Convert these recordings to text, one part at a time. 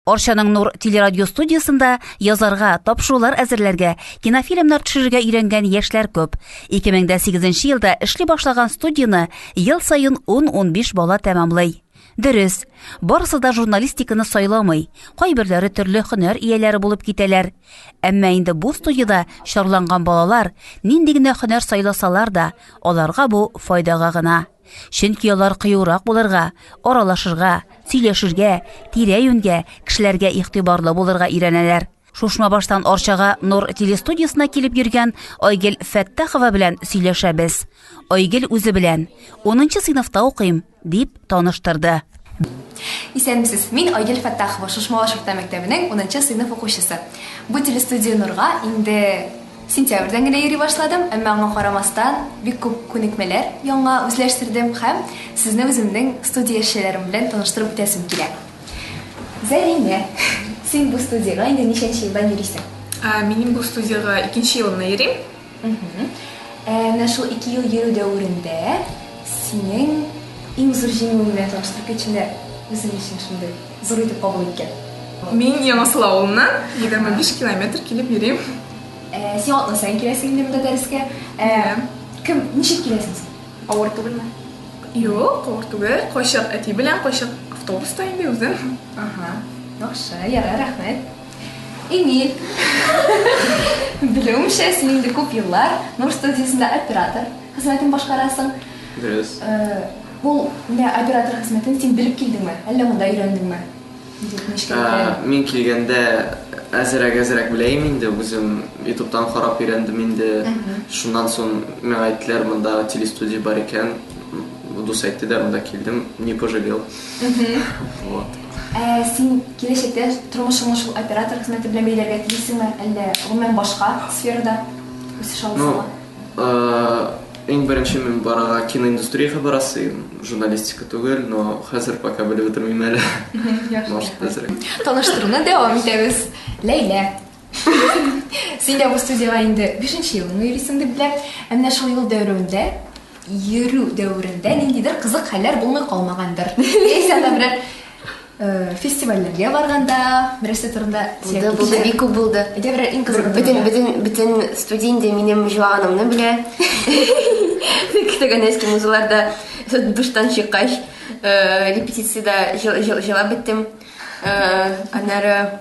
Арчаның Нур телерадиостудиясендә язарга, тапшырулар әзерләргә, кинофильмнар төшерергә өйрәнгән яшьләр күп. 2008 елда эшли башлаган студияне ел саен 10-15 бала тәмамлый. Дөрес, барысы да журналистиканы сайламый, кайберләре төрле һөнәр ияләре булып китәләр. Әмма инде бу студияда чарланган балалар нинди генә һөнәр сайласалар да, аларга бу файдага гына. Чөнки алар кыюрак булырга, аралашырга, сөйләшергә, тирә-юньгә, кешеләргә игътибарлы булырга өйрәнәләр. Шушмабаштан Арчага Нур телестудиясенә килеп йөргән Айгел Фәттахова белән сөйләшәбез. Айгел үзе белән, Унынчы сыйныфта укыйм, дип таныштырды. Исәнмесез, мин Айгөл Фәттахова, Шушмалаш урта мәктәбенең унынчы сыйныф укучысы. Бу телестудия Нурга инде сентябрьдән генә йөри башладым, әмма аңа карамастан, бик күп күнекмәләр яңа үзләштердем һәм сезне үземнең студия эшчеләрем белән таныштырып үтәсем килә. Зәлимә, син бу студиягә инде ничәнче елдан йөрисең? Минем бу студиягә икенче елымны йөрим. Ә менә шул ике ел йөрү дәверендә синең иң зур җиңүең белән таныштырып китче, менә үзең өчен шундый зур итеп кабул иткән. Мин Яңасыл авылыннан, 25 километр килеп йөрим. Син атна саен киләсең инде монда дәрескә. Кем, ничек киләсең син? Авыр түгелме? Юк, авыр түгел. Кайчак әти белән, кайчак автобуста инде үзем. Яхшы, ярар, рәхмәт. Эмиль. Белүемчә, син инде күп еллар Нур студиясендә оператор хезмәтен башкарасың. Дөрес. Э, ул менә оператор хезмәтен син белеп килдеңме? Әллә монда өйрәндеңме? Э, мин килгәндә әзерәк-әзерәк беләем инде, үзем ютубтан карап өйрәндем инде. Шуннан соң миңа әйттеләр, монда телестудия бар икән. Дус әйтте дә, монда килдем, не пожалел. Вот. Ә син киләчәктә тормышыңны шул оператор хезмәте белән бәйләргә телисеңме, әллә гомумән башка сферада үсеш аласыңмы? Ну, иң беренче мин барырга киноиндустриягә барасым, журналистика түгел, но хәзер пока белеп бетермим әле. Может әзрәк. Таныштыруны дәвам итәбез. Ләйлә, Син дә бу студиягә инде бишенче елыңны йөрисең дип беләм. Ә менә шул юл дәверендә, йөрү дәверендә ниндидер кызык хәлләр булмый калмагандыр. Яисә анда берәр э, фестивальләргә барганда, берәрсе турында сөйләп Булды, булды, китүче- бик күп булды. Әйдә берәр иң кызыгы Бөтен, турында. бөтен, бөтен студия инде минем җуаганымны белә. Көтегән эски музыларда душтан чыккач, э, репетициядә җыл- җыл- җылап беттем. Э, Аннары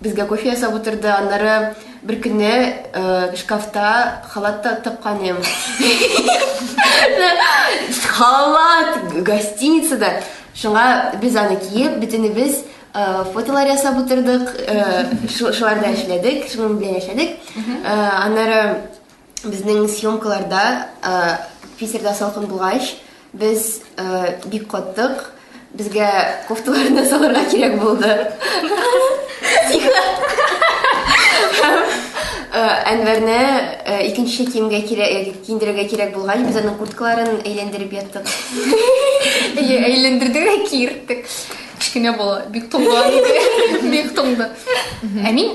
Безгә кофе ясап утырды, аннары бер көнне шкафта халат та тапкан идем. Халат гостиницада. Шуңа без аны киеп, бөтенебез фотолар ясап утырдык, шуларда эшләдек, шуның белән яшәдек. Аннары Безнең съемкаларда Питерда салкын булгач, без бик каттык. Безгә кофталарны салырга кирәк булды. Әнвәрне икенче киемгә кирәк киендерергә кирәк булгач, без аның курткаларын әйләндереп яттык. Әйләндердек, киерттек. Кечкенә бала бик туңган иде. Бик туңды. Ә мин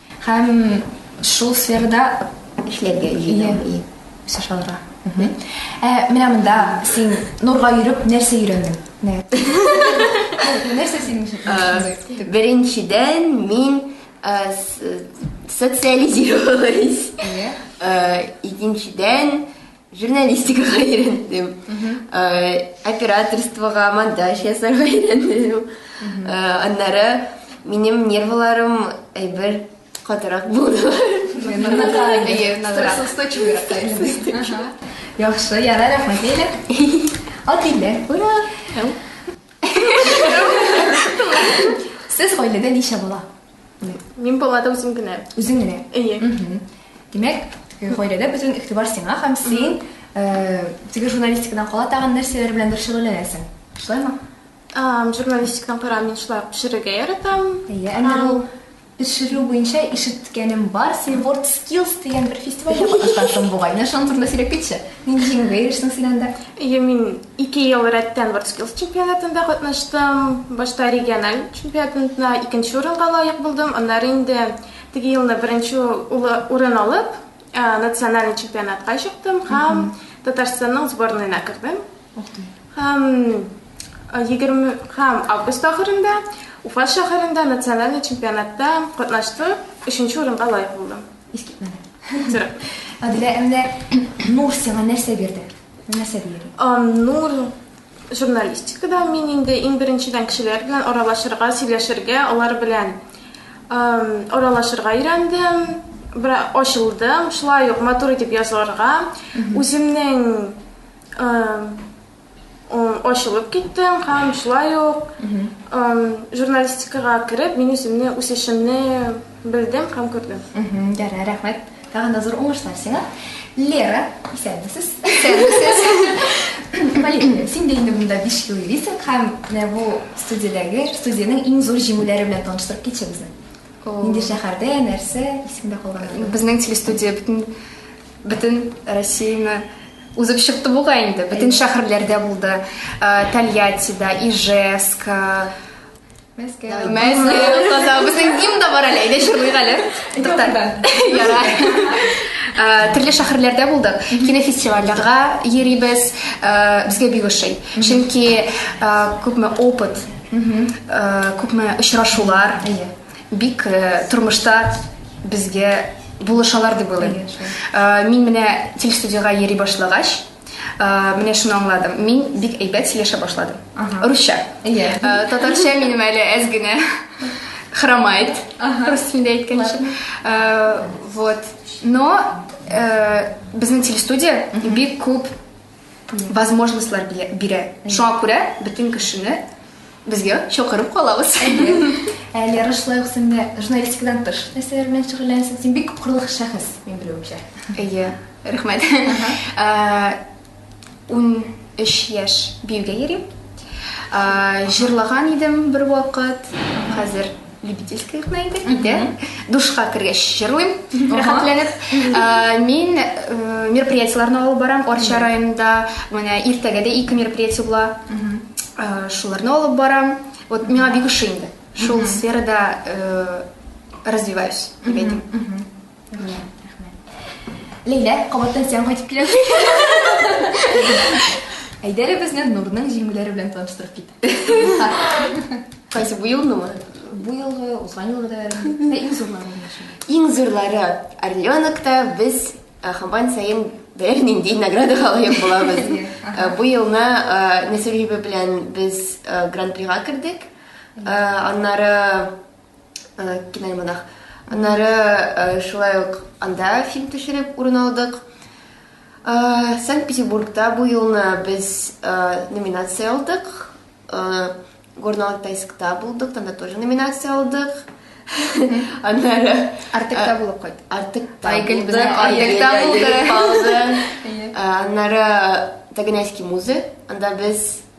Һәм шул сферада эшләргә җыена. Үсеш алырга. Ә менә монда син нурга йөреп нәрсә өйрәндең? Нәрсә синең өчен? Э, беренчедән мин э, социализировалась. Э, икенчедән Журналистикага өйрәндем. Операторствога, монтаж ясарга өйрәндем. Аннары минем нервларым әйбер катырак булдылар. Яхшы, ярар, рәхмәт Лилә. Ат Лилә, ура! Сез гаиләдә ничә бала? Мин балада үзем генә. Үзең генә. Әйе. Димәк, гаиләдә бөтен игътибар сиңа һәм син теге журналистикадан кала тагын нәрсәләр белән дә шөгыльләнәсең. Шулаймы? Журналистикадан кара мин шулай пешерергә яратам. Әйе, әнә ул пешерү буенча ишеткәнем бар, син World Skills дигән бер фестивальдә катнашкансың бугай. Менә шуның турында сөйләп китче. Нинди җиңүгә ирештең син анда? Әйе, мин Ике ел рәттән Вордскиллс чемпионатында катнаштым. Башта региональ чемпионатында икенче урынга лаек булдым, аннары инде теге елны беренче улы урын алып, национальный чемпионатка чыктым һәм Татарстанның сборныена кердем. Ух ты. Һәм егерме һәм август ахырында Уфа шәһәрендә национальный чемпионатта катнаштым, өченче урынга лаек булдым. Искитмәле. Тырып. Адилә, ә менә Нур сиңа нәрсә бирде? Нәрсә диер? Аннур журналистикада мин инде иң беренчедән кешеләр белән аралашырга, сөйләшергә, алар белән аралашырга өйрәндем, бер ачылдым, шулай ук матур итеп язарга, үземнең ачылып киттем һәм шулай ук журналистикага кереп, мин үземне үсешемне Белдем һәм күрдем. Ярар, рәхмәт. Тагын да зур уңышлар сиңа. Лера, исәнмесез. Исәнмесез. Мәлик, син дә инде монда 5 ел йөрисең һәм менә бу студиядәге, студиянең иң зур җиңүләре белән таныштырып китче безне. Нинди шәһәрдә, нәрсә, исемдә калган? Безнең телестудия бөтен бөтен Россияне узып чыкты буга инде. Бөтен шәһәрләрдә булды. Э, Тольяттида, Ижевск, э, Мәскәү. Мәскәү казау. Безнең гимн да бар әле. Әйдә җырлыйк әле. Тукта. Ярар. Э, Төрле шәһәрләрдә булдык. Кинофестивальләргә йөрибез. Э, Безгә бик ошый. Чөнки э, күпме опыт, э, күпме очрашулар. Әйе. Бик э, тормышта безгә булышалар дип уйлыйм. Әйе, шулай. Э, Мин менә телестудиягә йөри башлагач, Э, менә шуны аңладым мин бик әйбәт сөйләшә башладым русча иә э, татарча минем әле әз генә хромает рус телендә әйткәнче э, вот но безнең телестудия бик күп возможностьлар бирә шуңа күрә бөтен кешене Безгә чакырып калабыз. Әле ярышлай ук син дә журналистикадан тыш нәрсәләр белән шөгыльләнәсең. Син бик кырлык шәхес, мин белүемчә. Әйе, рәхмәт. Ун өч яшь биюгә йөрим. Җырлаган идем бер вакыт, хәзер любительская гына инде китә душка кергәч җырлыйм рәхәтләнеп э, мин э, мероприятиеләрне алып барам арча районында менә иртәгә дә ике мероприятие була э, шуларны алып барам вот миңа бик ошый инде шул сферада развиваюсь дип әйтим Ләйлә, кабаттан сиңа кайтып киләм. Әйдәре безне Нурның җиңүләре белән таныштырып кит. Кайсы бу елнымы? Бу елгы, узган елгы да бәрәбәр. Иң зурлары булмашы. Иң зурлары Орленокта без э, хамбан сайын берәр нинди наградага лаек булабыз. Э, Бу елны э, Нәсүр җибе белән без э, гран-прига кердек. Э, Аннары киноальманах аннары шулай ук анда фильм төшереп урын алдык санкт петербургта бу юлны без номинация алдык горно алтайскта булдык анда тоже номинация алдык аннары артыкта булып кайт артыкта айгөл безне артыкта булды аннары таганайский музей анда без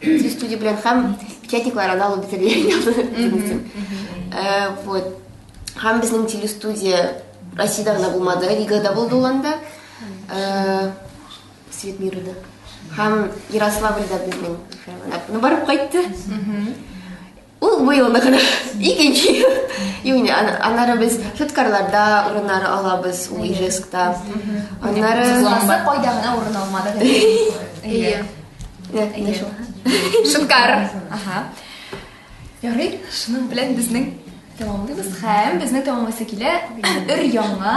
Сүз студия белән һәм печатниклар аны алып бетерелгән язылып. Э, вот. Һәм безнең телестудия Россиядә генә булмады, Ригада булды ул анда. Э, Свет мира да. Һәм Ярославльда безнең. Ну, барып кайтты. Ул бу елны гына икенче ел. Юни, аннары без Шуткарларда урыннары алабыз, ул Ижескта. Аннары... Классы кайда гына урын алмады. Әйе. Әйе. Шуткар. Ага. Ярый, шуның белән безнең тәмамлыйбыз һәм безнең тәмамлысы килә өр яңа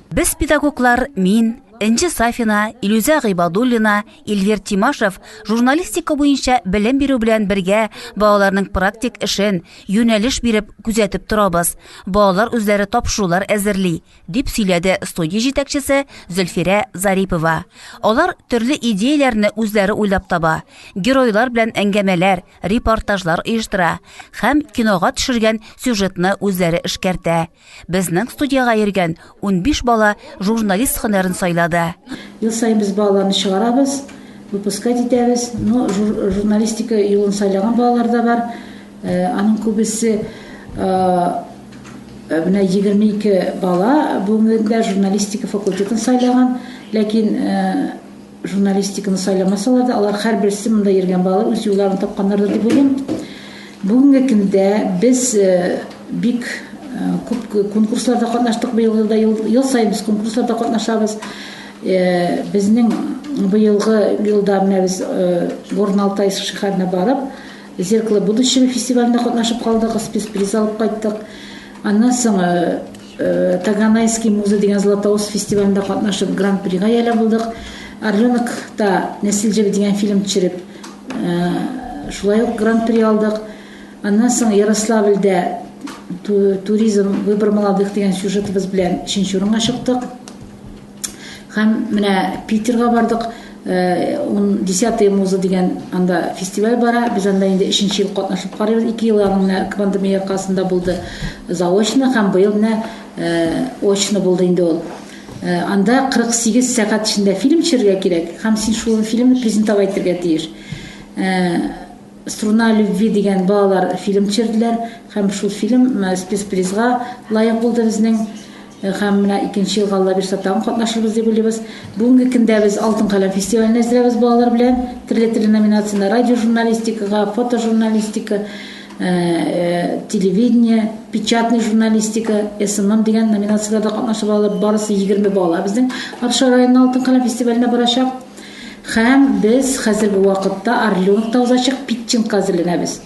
Без педагоглар, мин, Энҗе Сафина, Илюзә Гыйбадуллина, Ильвир Тимашев журналистика буенча белем бирү белән бергә балаларның практик эшен юнәлеш биреп күзәтеп торабыз. Балалар үзләре тапшырулар әзерли, дип сөйләде студия җитәкчесе Зөлфирә Зарипова. Алар төрле идеяләрне үзләре уйлап таба, геройлар белән әңгәмәләр, репортажлар оештыра һәм кинога төшергән сюжетны үзләре эшкәртә. Безнең студиягә йөргән 15 бала журналист һөнәрен сайлады. Ел саен без балаларны чыгарабыз, выпускать итәбез. Ну, журналистика юлын сайлаган балалар да бар. Э, аның күбесе э, э, менә 22 бала бүгенге көндә журналистика факультетын сайлаган, ләкин Журналистиканы сайламасалар да, алар һәрберсе монда йөргән балалар үз юлларын тапканнардыр дип уйлыйм. Бүгенге көндә без бик күп конкурсларда катнаштык быел да, ел, ел саен без конкурсларда катнашабыз. Безнең быелгы елда менә без Горналтай шәһәренә барып, Зеркало будущего фестивалендә катнашып калдык, спецприз алып кайттык. Аннан соң Таганайский музы дигән Златоуст фестивалендә катнашып, гран-прига ияләп булдык. Орленокта Нәсел җебе дигән фильм төшереп, шулай ук гран-при алдык. Аннан соң Ярославльдә туризм выбор молодых дигән сюжетыбыз белән өченче урынга чыктык. Һәм менә Питерга бардык, э, он десятые музы дигән анда фестиваль бара, без анда инде өченче ел катнашып карыйбыз, ике ел аны менә пандемия аркасында булды заочно һәм быел менә э, очно булды инде ул. Э, анда 48 сәгать эчендә фильм төшерергә кирәк һәм син шул фильмны презентовать итәргә тиеш. Э, Струна любви дигән балалар фильм төшерделәр һәм шул фильм э, спецпризга лаек булды безнең. Һәм менә икенче елга Алла бирса тагын катнашырбыз дип уйлыйбыз. Бүгенге көндә без Алтын каләм фестиваленә әзерәбез балалар белән. Төрле төрле номинациядә радиожурналистикага, фотожурналистика, телевидение, печатный журналистика, СММ дигән номинацияләрдә катнашып алып, барысы 20 бала безнең Арча районы Алтын каләм фестиваленә барачак. Һәм без хәзерге вакытта Орленокта узачак питчингка әзерләнәбез.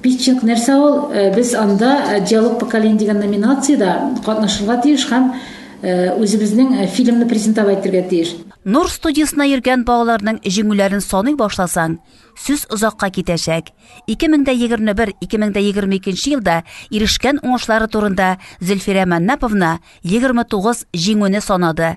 Пичек, нәрсә ул? Без анда Диалог поколений дигән номинациядә катнашырга тиеш һәм үзебезнең фильмны презентовать итәргә тиеш. Нур студиясенә йөргән балаларның җиңүләрен саный башласаң, сүз озакка китәчәк. 2021, 2022 нче елда ирешкән уңышлары турында Зөлфирә Маннаповна 29 җиңүне санады.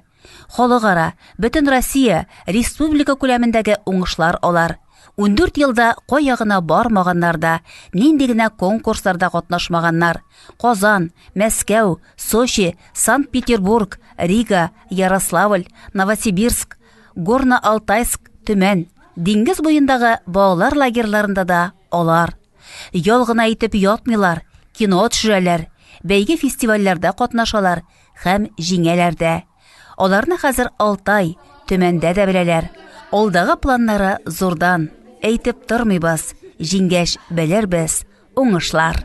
Халыкара, Бөтенроссия, республика күләмендәге уңышлар алар. Ундүрт елда кая гына бармаганнар да, нинди генә конкурсларда катнашмаганнар. Казан, Мәскәү, Сочи, Санкт-Петербург, Рига, Ярославль, Новосибирск, Горно-Алтайск, Төмән. Диңгез буендагы балалар лагерьларында да алар. Ял гына итеп ятмыйлар, кино төшерәләр, бәйге-фестивальләрдә катнашалар, Хәм җиңәләр дә. Аларны хәзер Алтай, Төмәндә дә беләләр. Алдагы планнары зурдан. Әйтеп тормыйбыз. Җиңгәч, белербез. Уңышлар!